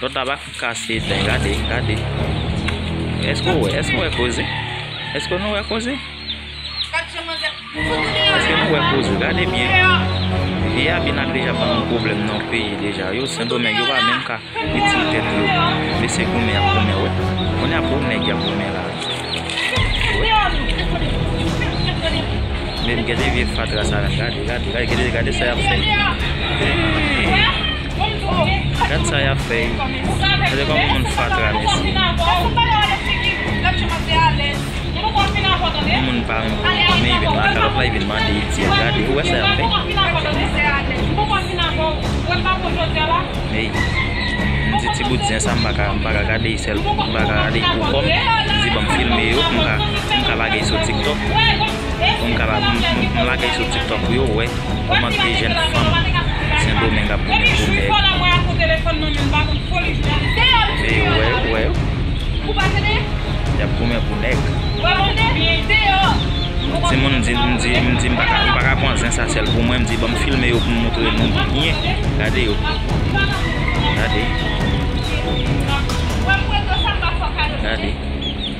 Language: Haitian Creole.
Ton tabak fout kase etèn gade gade Eske ou wè eske ou wè koze Eske nou wè koze Eske nou wè koze gade byen Vye a bina deja ban nou pwoblèm nan peyi deja yo sendomeng yo pa menm ka itil tèt yo mesye goumen yap goumen wè Kounye a bon nèg yap goumen la Menm gade vye fatra sa menm gade gade gade sa yap fè Eeii. Gad sa yap fè yo. Gade koman moun fatra mesye. Yon moun pa renmen pou moun men vin lakay lòt la vin mande etyèl. Gade ou wè sa yap fè. Ey m di ti bout zen sa m paka m paka gade yi sèl m paka gade yi pou kòm. M di banm filme yo pou m ka pou m ka lage yi sou tiktok. poum ka la m lagel sou tiktok pou yo wè kòman 2 jèn fanm sendomeng ap goumen pou nèg vle yo wè yo wè yo yap goumen pou nèg timoun di m di m di m paka pwan zen sa sèl pou mwen m di banm filme yo poum moutre nou byen gade yo gade gade